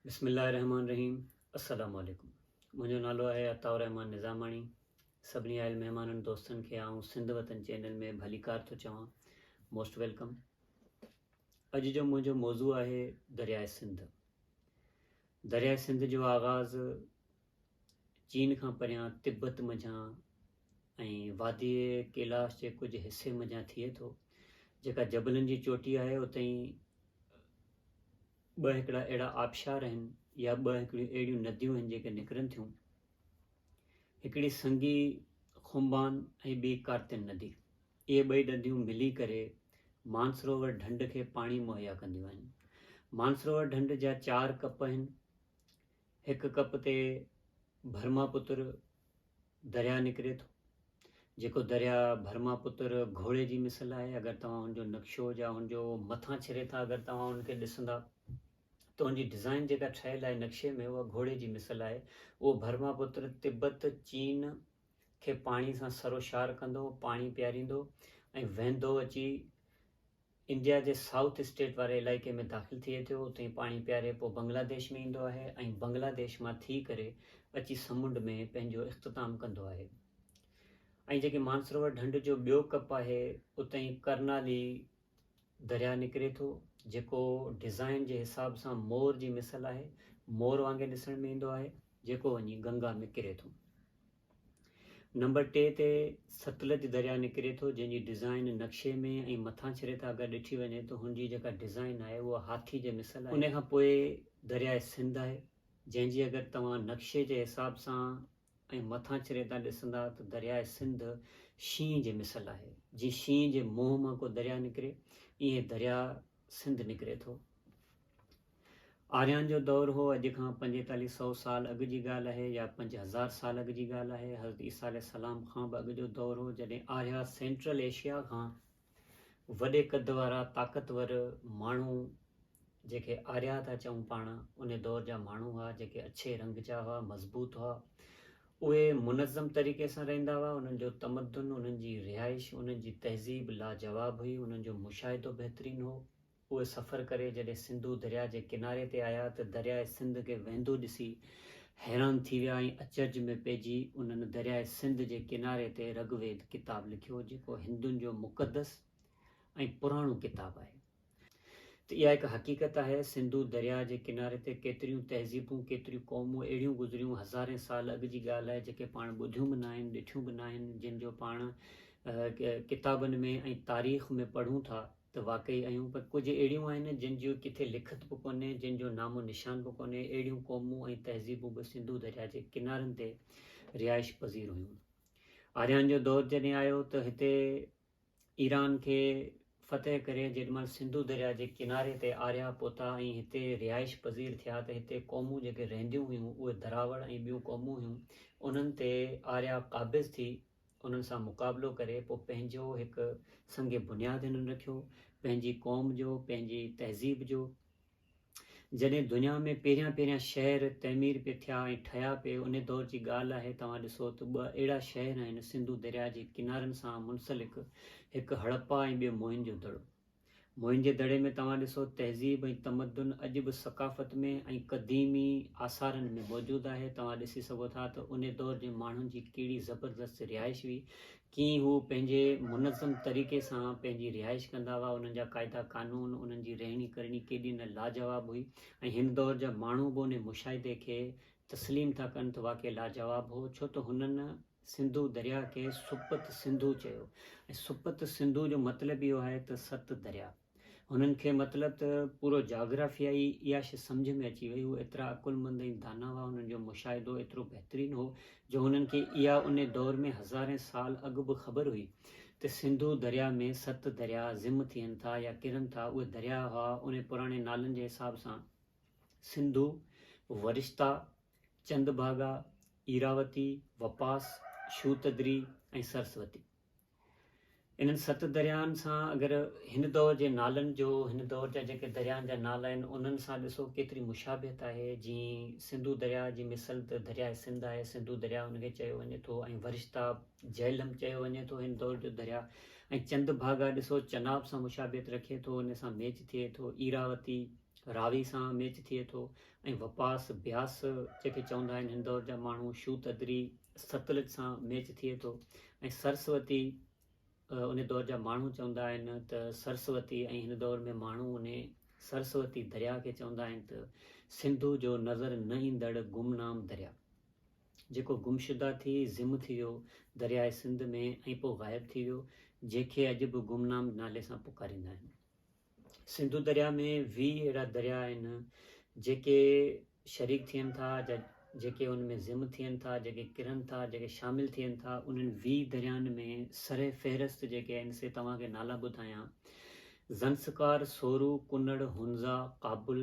بسم الله الرحمٰن الرحيم السلام عليڪم منهنجو نالو آهي عطاء الرحمٰن نظاماڻي سڀني آيل مهمانن دوستن کي آئون سنڌ وطن چينل ۾ ڀليڪار ٿو چوان موسٽ ويلڪم اڄ جو منهنجو موضوع آهي درياء سنڌ درياء سنڌ جو آغاز چين کان پريان تبت منجهان ۽ وادي ڪيلاش جي ڪجهه حصي منجهان ٿئي ٿو جيڪا جبلن جي چوٽي آهي اتي ٻه هڪڙا اهڙا آبشار آهن يا ٻه هڪڙيون اهڙيون نديون آهن جيڪي نڪرن ٿيون. هڪڙي سنگي خمبان ۽ ٻي ڪارتن ندي. اهي ٻئي نديون ملي ڪري مانسروور ڍنڍ کي پاڻي مهيا ڪنديون آهن. مانسروور ڍنڍ جا چار ڪپ آهن. هڪ ڪپ تي برهما پتر، درياهه نڪري ٿو، جيڪو درياهه برهماپتر گهوڙي جي مثل آهي، اگر توهان هن جو نقشو جا هن جو مٿان ڇري ٿا اگر توهان هن کي ڏسندا ته هن جي ڊزائين جيڪا ٺهيل آهي نقشي ۾ اها گهوڙي جي مثل آهي، اهو برهماپتر تبت، چين، کي پاڻي سان سروشار ڪندو، پاڻي پياريندو ۽ وهندو اچي انڊيا جي سائوٿ اسٽيٽ واري علائقي ۾ داخل ٿئي ٿيو، اتي پاڻي پياري پوء بنگلاديش ۾ ايندو آهي ۽ بنگلاديش مان ٿي ڪري اچي سمنڊ ۾ پنهنجو اختتام ڪندو آهي ۽ جيڪي مانسروور ڍنڍ جو ٻيو ڪپ آهي اتهين ڪرنالي درياهه نڪري ٿو جيڪو ڊزائين جي حساب سان مور جي مثل آهي مور وانگي ڏسڻ ۾ ايندو آهي جيڪو وڃي گنگا ۾ ڪري ٿو. نمبر ٽي تي ستلج درياء نڪري ٿو جنهن جي ڊزائين نقشي ۾ ۽ مٿان ڇري تان اگر ڏٺي وڃي ته هن جي جيڪا ڊزائين آهي اها هاٿي جي مثل آهي. ان کان پوء درياء سنڌ آهي جنهن جي اگر توهان نقشي جي حساب سان ۽ مٿان ڇري تان ڏسندا ته درياء سنڌ شينهن جي مثل آهي جيئن شينهن جي منهن مان ڪو درياء نڪري ايئن درياء سنڌ نڪري ٿو آريان جو دور هو، اڄ کان پنجيتاليهه سئو سال اڳ جي ڳالهه آهي يا پنج هزار سال اڳ جي ڳالهه آهي. حضرت عيسيٰ عليه السلام کان به اڳ جو دور هو، جڏهن آريا سينٽرل ايشيا کان وڏي قد وارا طاقتور ماڻهو جيڪي آريا ٿا چئون پاڻ، ان دور جا ماڻهو هئا، جيڪي اڇي رنگ جا هئا، مضبوط هئا. اهي منظم طريقي سان رهندا هئا، انهن جو تمدن، انهن جي رهائش، انهن جي تهذيب لاجواب هئي، انهن جو مشاهدو بهترين هو. اهي سفر ڪري جڏهن سنڌو درياء جي ڪناري تي آيا ته درياء سنڌ کي وهندو ڏسي حيران ٿي ويا ۽ اچرج ۾ پئجي انهن درياء سنڌ جي ڪناري تي رگ ويد ڪتاب لکيو جيڪو هندن جو مقدس ۽ پراڻو ڪتاب آهي ته اها هڪ حقيقت آهي سنڌو درياء جي ڪناري تي ڪيتريون تهذيبون ڪيتريون قومون اهڙيون گذريون هزارين سال اڳ جي ڳالهه آهي جيڪي پاڻ ٻڌيون به ناهن ڏٺيون به ناهن جن جو پاڻ ڪتابن ۾ ۽ تاريخ ۾ پڙهون ٿا ته واقعي ايون پر ڪجهه اهڙيون آهن جن جي ڪٿي لکت به ڪونهي، جن جو نام و نشان به ڪونهي، اهڙيون قومون ۽ تهذيبون به سنڌو درياء جي ڪنارن تي رهائش پذير هيون. آريان جو دور جڏهن آيو ته هتي ايران کي فتح ڪري جيڏي مهل سنڌو درياء جي ڪناري تي آريا پهتا ۽ هتي رهائش پذير ٿيا ته هتي قومون جيڪي رهنديون هيون اهي دراوڙ ۽ ٻيون قومون هيون انهن تي آريا قابض ٿي انهن سان مقابلو ڪري پوء پنهنجو هڪ سنگ بنياد هنن رکيو، پنهنجي قوم جو، پنهنجي تهذيب جو. جڏهن دنيا ۾ پهريان پهريان شهر تعمير پي ٿيا ۽ ٺهيا پي، انهي دور جي ڳالهه آهي، توهان ڏسو ته ٻه اهڙا شهر آهن سنڌو درياء جي ڪنارن سان منسلڪ، هڪ هڙپا ۽ ٻيو موهن جو دڙو. موهنجي دڙي ۾ توهان ڏسو تهذيب ۽ تمدن اڄ به ثقافت ۾ ۽ قديمي آثارن ۾ موجود آهي توهان ڏسي سگهو ٿا ته انهي دور جي ماڻهن جي ڪهڙي زبردست رهائش هئي ڪيئن هو پنهنجي منظم طريقي سان پنهنجي رهائش ڪندا هئا انهن جا قاعده قانون انهن جي رهڻي ڪرڻي ڪيڏي نه لاجواب هئي ۽ هن دور جا ماڻهو به انهي مشاهدي کي تسليم ٿا ڪن ته واقعي لاجواب هو ڇو ته هنن سنڌو درياهه کي سپت سنڌو چيو ۽ سپت سنڌو جو مطلب اهو آهي ته ست درياهه. هنن کي مطلب ته پورو جاگرافيا ئي اها شي سمجهه ۾ اچي وئي. هو ايترا عقلمند ۽ دانا هئا، هنن جو مشاهدو ايترو بهترين هو جو هنن کي اها انهي دور ۾ هزارين سال اڳ به خبر هئي ته سنڌو درياهه ۾ ست درياهه ضم ٿين ٿا يا ڪرن ٿا. اهي درياهه هئا انهي پراڻي نالن جي حساب سان سنڌو، ورشتا، چند ڀاڳا، ايراوتي، وپاس، شوتدري ۽ سرسوتي. انهن ست درياهن سان اگر هن دور جي نالن جو هن دور جا جيڪي درياهن جا نالا آهن انهن سان ڏسو ڪيتري مشابهت آهي جيئن سنڌو درياهه جي مثل ته درياهه سنڌ آهي سنڌو درياهه ان کي چيو وڃي ٿو ۽ ورشتاب، جهلم، چيو وڃي ٿو هن دور جو درياهه ۽ چند ڀاڳا ڏسو چناب سان مشابهت رکي ٿو ان سان ميچ ٿئي ٿو ايراوتي، راوي سان ميچ ٿئي ٿو ۽ وپاس بياس جيڪي چوندا آهن هن دور جا ماڻهو شوتدري ستلج سان ميچ ٿئي ٿو ۽ سرسوتي ان دور جا ماڻهو چوندا آهن ته سرسوتي ۽ هن دور ۾ ماڻهو ان سرسوتي درياء کي چوندا آهن ته سنڌو جو نظر نه ايندڙ گمنام درياء جيڪو گمشده ٿي ضم ٿي ويو درياء سنڌ ۾ ۽ پوء غائب ٿي ويو جنهن کي اڄ به گمنام نالي سان پڪاريندا آهن سنڌو درياء ۾ ويهه اهڙا درياء آهن جيڪي شريڪ ٿين ٿا جا جيڪي ان ۾ ضم ٿين ٿا جيڪي ڪرن ٿا جيڪي شامل ٿين ٿا انهن ويهه دريائن ۾ سر فهرست جيڪي آهن سي توهان کي نالا ٻڌايان زنسڪار، سورو، ڪنڙ، هنزا، ڪابل،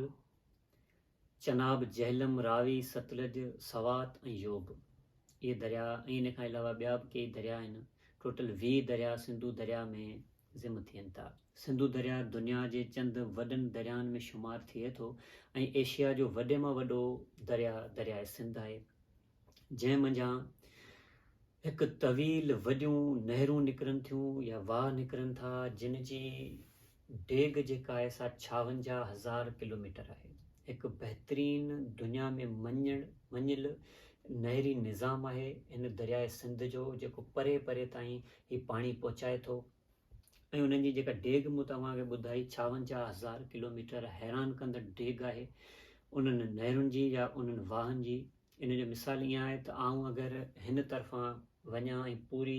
چناب، جهلم، راوي، ستلج، سوات ۽ يوب اهي درياء ۽ ان کان علاوه ٻيا به ڪيئي درياء آهن. ٽوٽل ويهه درياء سنڌو درياء ۾ ضم ٿين ٿا. سنڌو درياء دنيا جي چند وڏن دريائن ۾ شمار ٿئي ٿو ۽ ايشيا جو وڏي مان وڏو درياء درياء سنڌ آهي. جنهن منجهان هڪ طويل وڏيون نهرون نڪرن ٿيون يا واهه نڪرن ٿا جن جي ڊيگهه جيڪا آهي سا ڇاونجاهه هزار ڪلوميٽر آهي. هڪ بهترين دنيا ۾ مڃڻ مڃيل نهري نظام آهي هن درياء سنڌ جو جيڪو پري پري تائين هي پاڻي پهچائي ٿو. ۽ انهن جي جيڪا ڊيگهه مون توهان کي ٻڌائي ڇاونجاهه هزار ڪلوميٽر حيران ڪندڙ ڊيگهه آهي انهن نهرن جي يا انهن واهن جي ان جو مثال ائين آهي ته آئون اگر هن طرفان وڃان ۽ پوري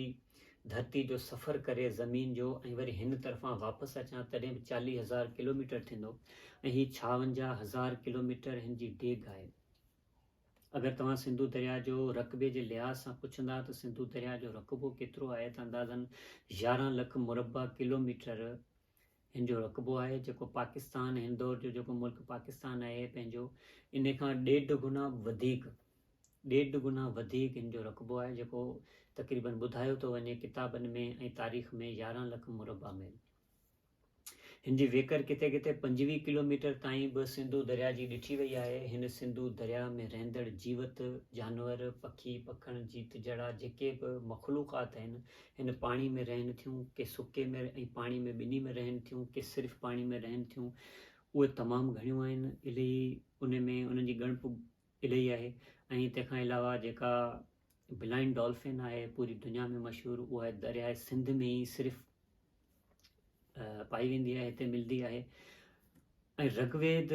ڌرتي جو سفر ڪري زمين جو ۽ وري هن طرفان واپس اچان تڏهن به چاليهه هزار ڪلوميٽر ٿيندو ۽ هي ڇاونجاهه هزار ڪلوميٽر هن جي ڊيگهه آهي اگر توهان سنڌو درياهه جو رقبي جي لحاظ سان پڇندا ته سنڌو درياهه جو رقبو ڪيترو آهي ته اندازن يارهن لک مربع ڪلوميٽر هن جو رقبو آهي جيڪو پاڪستان هن دور جو جيڪو ملڪ پاڪستان آهي پنهنجو ان کان ڏيڍ گنا وڌيڪ ڏيڍ گنا وڌيڪ هن جو رقبو آهي جيڪو تقريبن ٻڌايو ٿو وڃي ڪتابن ۾ ۽ تاريخ ۾ يارهن لک مربع ميل هن جي ويڪر ڪٿي ڪٿي پنجويهه ڪلوميٽر تائين به سنڌو درياهه جي ڏٺي وئي آهي. هن سنڌو درياهه ۾ رهندڙ جيوت، جانور، پکي، پکڻ، جيت جهڙا جيڪي به مخلوقات آهن، هن پاڻي ۾ رهن ٿيون، ڪي سڪي ۾ ۽ پاڻي ۾ ٻنهي ۾ رهن ٿيون، ڪي صرف پاڻي ۾ رهن ٿيون، اهي تمام گهڻيون آهن، الهي انهن ۾ انهن جي ڳڻپ الهي آهي ۽ تنهن کان علاوه جيڪا بلائنڊ ڊالفن آهي پوري دنيا ۾ مشهور اها درياهه سنڌ ۾ ئي صرف پائي ويندي آهي هتي ملندي آهي ۽ رگ ويد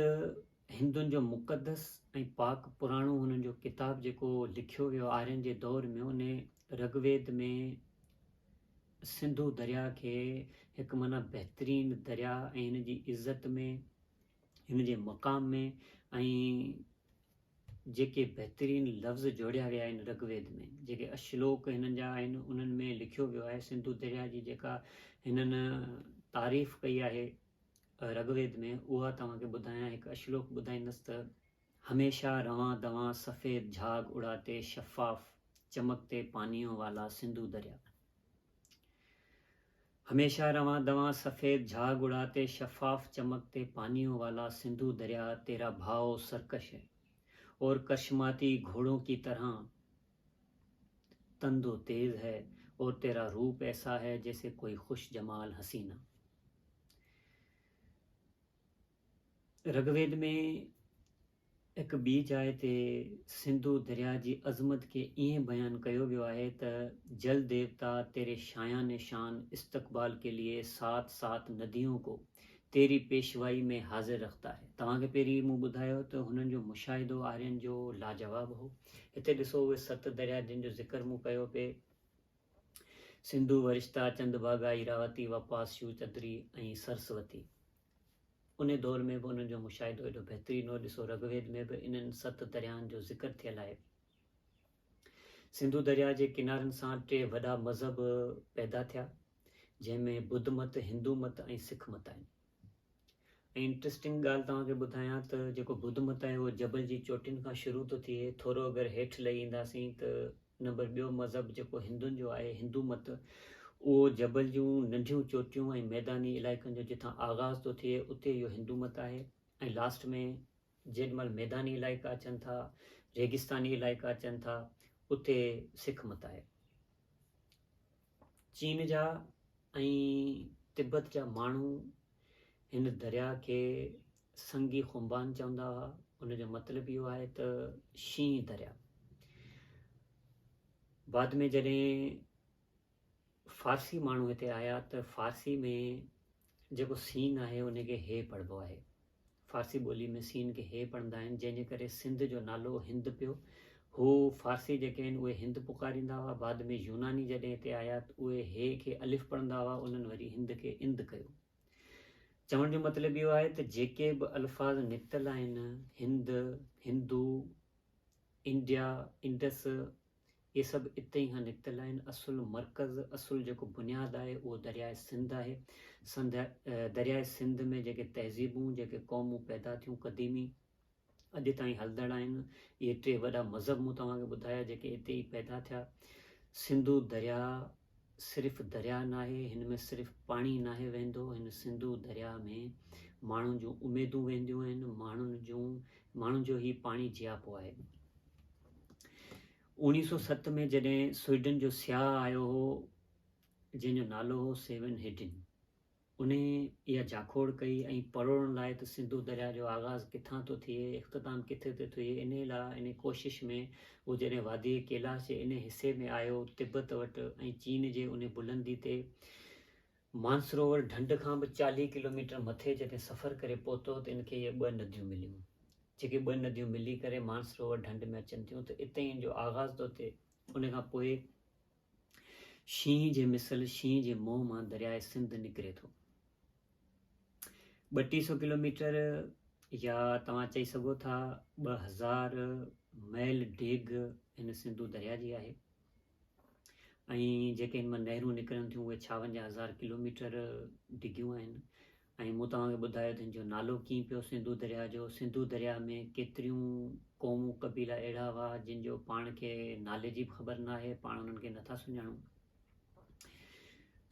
هندن جو مقدس ۽ پاڪ پراڻو هنن جو ڪتاب جيڪو لکيو ويو آرين جي دور ۾ ان رگ ويد ۾ سنڌو دريا کي هڪ معنی بهترين دريا ۽ هن جي عزت ۾ هن جي مقام ۾ ۽ جيڪي بهترين لفظ جوڙيا ويا آهن رگ ويد ۾، جيڪي اشلوڪ هنن جا آهن انهن ۾ لکيو ويو آهي سنڌو درياء جي جيڪا هنن تعريف ڪئي آهي رگ ويد ۾ اها توهان کي ٻڌايان هڪ اشلوڪ ٻڌائيندس ته، هميشه روان دوان سفيد جھاگ اڙاتي شفاف چمڪتي پانيون والا سنڌو درياء. هميشه روان دوان سفيد جھاڳ اڙاتي شفاف چمڪ تي پانيون والا سنڌو درياء تيرا ڀائو سرڪش هي اور ڪرشماتي گھوڙون ڪي طرحان تند و تيز هي اور تيرا روپ ايسا هي جيسي ڪوئي خوش جمال حسينا رگويد ۾ هڪ ٻي جاء تي سنڌو درياء جي عظمت کي ائين بيان ڪيو ويو آهي ته جل ديوتا تيري شايان شان استقبال ڪي ليئي سات سات نديون ڪو تيري پيشوائي ۾ حاضر رختا هي. توهان کي پهرين ئي مون ٻڌايو ته هنن جو مشاهدو آرين جو لاجواب هو. هتي ڏسو اهي ست درياء جن جو ذڪر مون ڪيو پي سنڌو، ورشتا، چندڀاگا، ايراوتي، وپاس، شوچدري ۽ سرسوتي. انهي دور ۾ به انهن جو مشاهدو ايڏو بهترين هو، ڏسو رگ ويد ۾ به انهن ست درياهن جو ذڪر ٿيل آهي. سنڌو درياهه جي ڪنارن سان ٽي وڏا مذهب پيدا ٿيا، جنهن ۾ ٻڌ مت، هندو مت ۽ سک مت آهن. ۽ انٽرسٽنگ ڳالهه توهان کي ٻڌايان ته جيڪو ٻڌ مت آهي اهو جبل جي چوٽين کان شروع ٿو ٿئي، ٿورو اگر هيٺ لهي اينداسين ته نمبر ٻيو مذهب جيڪو هندن جو آهي هندو مت اهو جبل جون ننڍيون چوٽيون ۽ ميداني علائقن جو جتان آغاز ٿو ٿئي اتي اهو هندو مت آهي ۽ لاسٽ ۾ جيڏ مهل ميداني علائقا اچن ٿا ريگستاني علائقا اچن ٿا اتي سک مت آهي. چين جا ۽ تبت جا ماڻهو هن درياء کي سنگي خنبان چوندا هئا، ان جو مطلب اهو آهي ته شينهن درياء. بعد ۾ جڏهن فارسي ماڻهو هتي آيا ته فارسي ۾ جيڪو سين آهي ان کي هي پڙهبو آهي. فارسي ٻولي ۾ سين کي هي پڙهندا آهن، جنهن جي ڪري سنڌ جو نالو هند پيو. هو، فارسي جيڪي آهن، اهي هند پڪاريندا هئا، بعد ۾ يوناني جڏهن هتي آيا ته اهي هي کي الف پڙهندا هئا، انهن وري هند کي اند ڪيو. چوڻ جو مطلب اهو آهي ته جيڪي به الفاظ نڪتل آهن، هند، هندو، انڊيا، انڊس، اهي سڀ اتي ئي کان نڪتل آهن. اصل مرڪز، اصل جيڪو بنياد آهي اهو درياء سنڌ آهي. سنڌ، درياء سنڌ ۾ جيڪي تهذيبون، جيڪي قومون پيدا ٿيون قديمي، اڄ تائين هلندڙ آهن. اهي ٽي وڏا مذهب مون توهان کي ٻڌايا جيڪي اتي ئي پيدا ٿيا. سنڌو درياء صرف درياء ناهي، هن ۾ صرف پاڻي ناهي وهندو، هن سنڌو درياء ۾ ماڻهن جون اميدون وهنديون آهن، ماڻهن جون، ماڻهن جو هي پاڻي جياپو آهي. اوڻيهه سؤ ست ۾ جڏهن سوئيڊن جو سياح آيو هو، جنهن جو نالو هو سيون هيڊن، ان اها جاکوڙ ڪئي ۽ پروڙڻ لاء ته سنڌو درياء جو آغاز ڪٿان ٿو ٿئي، اختتام ڪٿي ٿو ٿئي، ان لاء ان ڪوشش ۾ هو جڏهن واديء ڪيلاش جي ان حصي ۾ آيو، تبت وٽ ۽ چين جي ان بلندي تي، مانسروور ڍنڍ کان به چاليهه ڪلوميٽر مٿي جڏهن سفر ڪري پهتو ته ان کي اهي ٻه نديون مليون. جيڪي ٻه نديون ملي ڪري مانسروور ڍنڍ ۾ اچن ٿيون ته اتي ئي ان جو آغاز ٿو ٿئي. ان کان پوء شينهن جي مثل شينهن جي منهن مان درياء سنڌ نڪري ٿو. ٻه ٽي سو ڪلوميٽر يا توهان چئي سگهو ٿا ٻه هزار ميل ڊيگهه هن سنڌو درياء جي آهي. ۽ جيڪي ان مان نهرون نڪرن ٿيون اهي ڇاون جا هزار ڪلوميٽر ڊگهيون آهن ۽ مون توهان کي ٻڌايو ته ان جو نالو ڪيئن پيو سنڌو درياهه جو سنڌو درياهه ۾ ڪيتريون قومون قبيلا اهڙا هئا جن جو پاڻ کي نالي جي به خبر ناهي پاڻ انهن کي نٿا سڃاڻون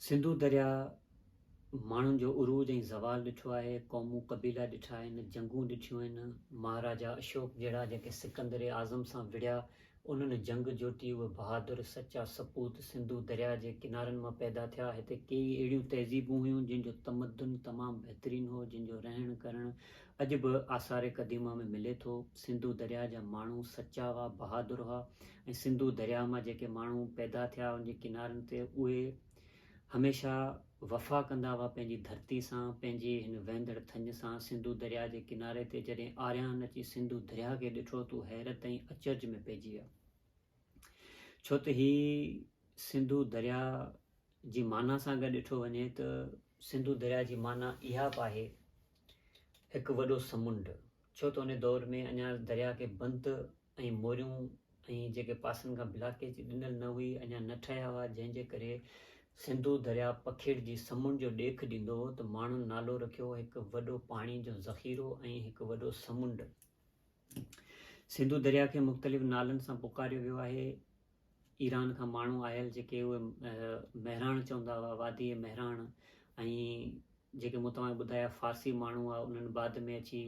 سنڌو درياهه ماڻهن جو عروج ۽ زوال ڏٺو آهي، قومون قبيلا ڏٺا آهن، جنگون ڏٺيون آهن، مهاراجا اشوڪ جهڙا جيڪي سڪندر اعظم سان وڙهيا، انهن جنگ جوٽي اهي بهادر، سچا سپوت سنڌو درياء جي ڪنارن مان پيدا ٿيا، هتي ڪيئي اهڙيون تهذيبون هيون جن جو تمدن تمام بهترين هو، جن جو رهڻ ڪرڻ اڄ به آثار قديمه ۾ ملي ٿو، سنڌو درياء جا ماڻهو سچا هئا، بهادر هئا ۽ سنڌو درياء مان جيڪي ماڻهو پيدا ٿيا ان جي ڪنارن تي اهي. هميشه وفا ڪندا هئا پنهنجي ڌرتي سان، پنهنجي هن وهندڙ ٿڃ سان، سنڌو درياء جي ڪناري تي جڏهن آريان اچي سنڌو درياء کي ڏٺو ته هو حيرت ۽ اچرج ۾ پئجي ويا ڇو ته هي سنڌو درياء جي معنيٰ سان گڏ ڏٺو وڃي ته سنڌو درياء جي معنيٰ اها به آهي هڪ وڏو سمنڊ ڇو ته ان دور ۾ اڃا درياء کي بند ۽ موريون ۽ جيڪي پاسن کان بلاڪيچ ڏنل نه هئي اڃا نه ٺهيا هئا جنهن جي ڪري سنڌو درياء پکيڙجي سمنڊ جو ڏيک ڏيندو هو ته ماڻهن نالو رکيو هڪ وڏو پاڻي جو ذخيرو ۽ هڪ وڏو سمنڊ. سنڌو درياء کي مختلف نالن سان پڪاريو ويو آهي ايران کان ماڻهو آيل جيڪي اهي مهراڻ چوندا هئا وادي مهراڻ ۽ جيڪي مون توهان کي ٻڌايا فارسي ماڻهو هئا انهن بعد ۾ اچي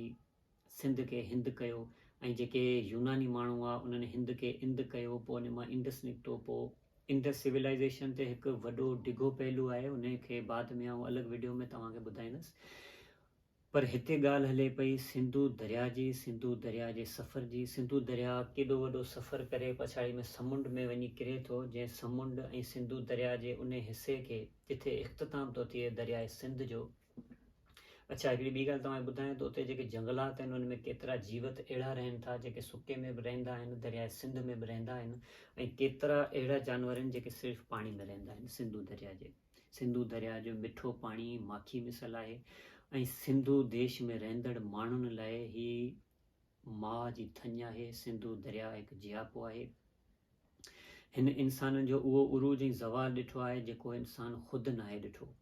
سنڌ کي هند ڪيو ۽ جيڪي يوناني ماڻهو هئا انهن هند کي اند ڪيو پوء ان مان انڊس نڪتو پوء انڊس سولائيزيشن تي هڪ وڏو ڊگهو پهلو آهي ان کي بعد ۾ آئون الڳ وڊيو ۾ توهان کي ٻڌائيندس پر هتي ڳالهه هلي پئي سنڌو درياء جي سنڌو درياء جي سفر جي سنڌو درياء ڪيڏو وڏو سفر ڪري پڇاڙي ۾ سمنڊ ۾ وڃي ڪري ٿو جنهن سمنڊ ۽ سنڌو درياء جي انهي حصي کي جتي اختتام ٿو ٿئي درياء سنڌ جو اڇا هڪڙي ٻي ڳالهه توهان کي ٻڌايان ته اتي جيڪي جنگلات آهن ان ۾ ڪيترا جيوت اهڙا رهن ٿا جيڪي سڪي ۾ به رهندا آهن درياء سنڌ ۾ به رهندا آهن ۽ ڪيترا اهڙا جانور آهن جيڪي صرف پاڻي ۾ رهندا آهن سنڌو درياء جي سنڌو درياء جو مٺو پاڻي ماکي مثل آهي ۽ سنڌو ديش ۾ رهندڙ ماڻهن لاء هي ماء جي ٿڃ آهي سنڌو درياء هڪ جياپو آهي هن انسانن جو اهو عروج ۽ زوال ڏٺو آهي جيڪو انسان خود ناهي ڏٺو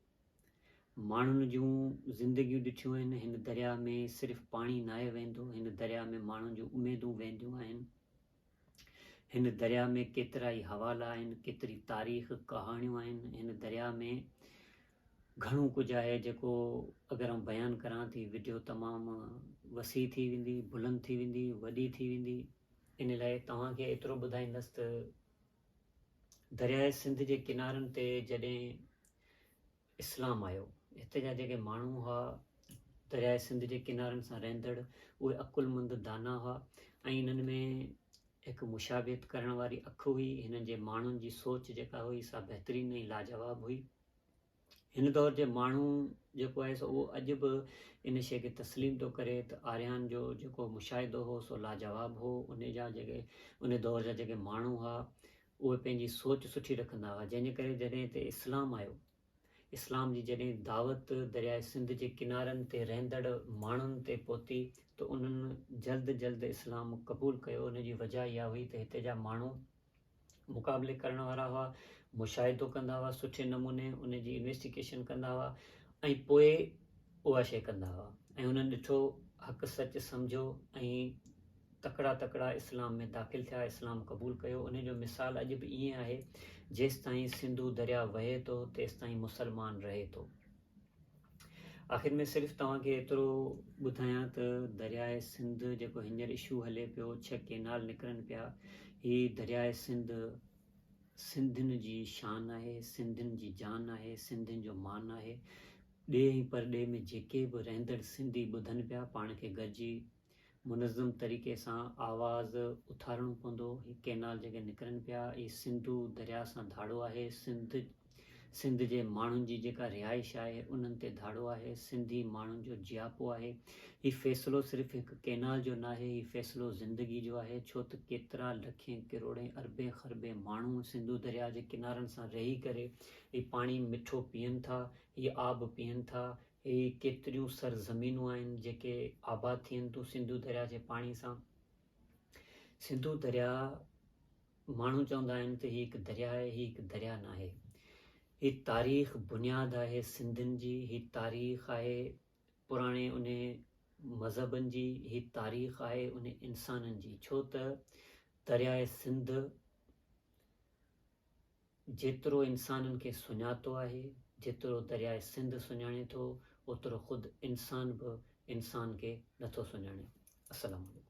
ماڻهن جون زندگيون ڏٺيون آهن، هن درياهه ۾ صرف پاڻي ناهي وهندو، هن درياهه ۾ ماڻهن جون اميدون وهنديون آهن. هن درياهه ۾ ڪيترائي حوالا آهن، ڪيتري تاريخ، ڪهاڻيون آهن، هن درياهه ۾ گهڻو ڪجهه آهي جيڪو اگر آئون بيان ڪران ته هي وڊيو تمام وسيع ٿي ويندي، بلند ٿي ويندي، وڏي ٿي ويندي. ان لاء توهان کي ايترو ٻڌائيندس ته درياء سنڌ جي ڪنارن تي جڏهن اسلام آيو، هتي جا جيڪي ماڻهو هئا، درياء سنڌ جي ڪنارن سان رهندڙ، اهي عقلمند دانا هئا ۽ هنن ۾ هڪ مشابهت ڪرڻ واري اک هئي، هنن جي ماڻهن جي سوچ جيڪا هئي، سا بهترين ۽ لاجواب هئي. هن دور جي ماڻهو جيڪو آهي سو اهو اڄ به ان شيء کي تسليم ٿو ڪري ته آريان جو جيڪو مشاهدو هو سو لاجواب هو ان جا جيڪي ان دور جا جيڪي ماڻهو هئا اهي پنهنجي سوچ سٺي رکندا هئا جنهن جي ڪري جڏهن هتي اسلام آيو اسلام جي جڏهن دعوت درياء سنڌ جي ڪنارن تي رهندڙ ماڻهن تي پهتي ته انهن جلد جلد اسلام قبول ڪيو ان جي وجهه اها هئي ته هتي جا ماڻهو مقابلي ڪرڻ وارا هئا، مشاهدو ڪندا هئا سٺي نموني ان جي انويسٽيگيشن ڪندا هئا ۽ پوء اها شيء ڪندا هئا ۽ انهن ڏٺو حق سچ سمجهيو ۽ تڪڙا تڪڙا اسلام ۾ داخل ٿيا اسلام قبول ڪيو ان جو مثال اڄ به ائين آهي جيستائين سنڌو درياء وهي ٿو تيستائين مسلمان رهي ٿو. آخر ۾ صرف توهان کي ايترو ٻڌايان ته درياء سنڌ جيڪو هينئر اشو هلي پيو ڇهه ڪينال نڪرن پيا هي درياء سنڌ سنڌين جي شان آهي سنڌين جي جان آهي سنڌين جو مان آهي ڏيهه ۽ پرڏيهه ۾ جيڪي به رهندڙ سنڌي ٻڌن پيا پاڻ کي گڏجي منظم طريقي سان آواز اٿارڻو پوندو، هي ڪينال جيڪي نڪرن پيا اهي سنڌو درياء سان ڌاڙو آهي، سنڌ سنڌ جي ماڻهن جي جيڪا رهائش آهي انهن تي ڌاڙو آهي، سنڌي ماڻهن جو جياپو آهي، هي فيصلو صرف هڪ ڪينال جو ناهي هي فيصلو زندگي جو آهي ڇو ته ڪيترا لکين ڪروڙين اربين خربين ماڻهو سنڌو درياء جي ڪنارن سان رهي ڪري هي پاڻي مٺو پيئن ٿا، هي آب پيئن ٿا، هي ڪيتريون سر زمينون آهن جيڪي آباد ٿين ٿيون سنڌو درياهه جي پاڻي سان. سنڌو درياهه ماڻهو چوندا آهن ته هي هڪ درياهه آهي، هي هڪ درياهه ناهي. هي تاريخ بنياد آهي سنڌين جي، هي تاريخ آهي پراڻي انهي مذهبن جي، هي تاريخ آهي انهي انسانن جي ڇو ته درياهه سنڌ، جيترو انسانن کي سڃاتو آهي، جيترو درياء سنڌ سڃاڻي ٿو، اوترو خود انسان به انسان کي نٿو سڃاڻي. السلام عليڪم.